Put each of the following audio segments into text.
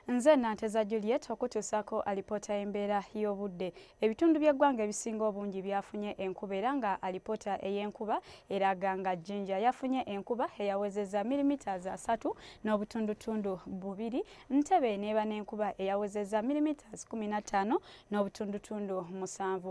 Nze Nanteza Juliet okutuusaako alipoota y'embeera y'obudde. Ebitundu by'eggwanga ebisinga obungi byafunye enkuba era nga alipoota ey'enkuba eraga nga Jinja yafunye enkuba eyawezezza milimiters asatu n'obutundutundu bubiri, Ntebe n'eba n'enkuba eyawezezza milimiters kumi na ttaano n'obutundutundu musanvu.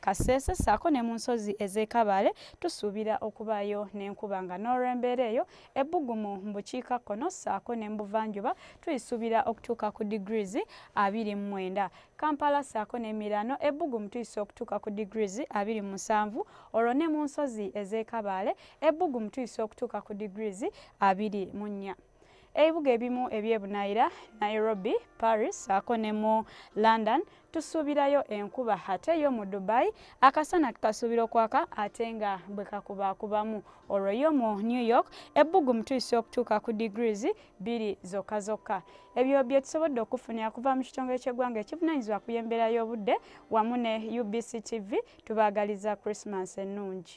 Kasese ssaako ne mu nsozi ez'e Kabale tusuubira okubaayo n'enkuba nga n'olw'embeera eyo ebbugumu mu bukiika kkono ssaako ne mu buvanjuba tuyisuubira okutuuka ku degrees abiri mu mwenda. Kampala ssaako n'emiraano ebbugumu tuyisa okutuuka ku degrees abiri mu musanvu olwo ne mu nsozi ez'e Kabale ebbugumu tuyisa okutuuka ku degrees abiri mu nnya. Ebibuga ebimu eby'ebunaayira Nairobi, Paris saako ne mu London tusuubirayo enkuba ate yo mu Dubai akasana tukasuubira okwaka ate nga bwe kakubaakubamu. Olwo yo mu New York ebbugumu tuyise okutuuka ku degrees bbiri zokka zokka. Ebyo bye tusobodde okufunira kuva mu kitongole ky'eggwanga ekivunaanyizibwa ku y'embeera y'obudde wamu ne UBC TV tubaagaliza Christmas ennungi.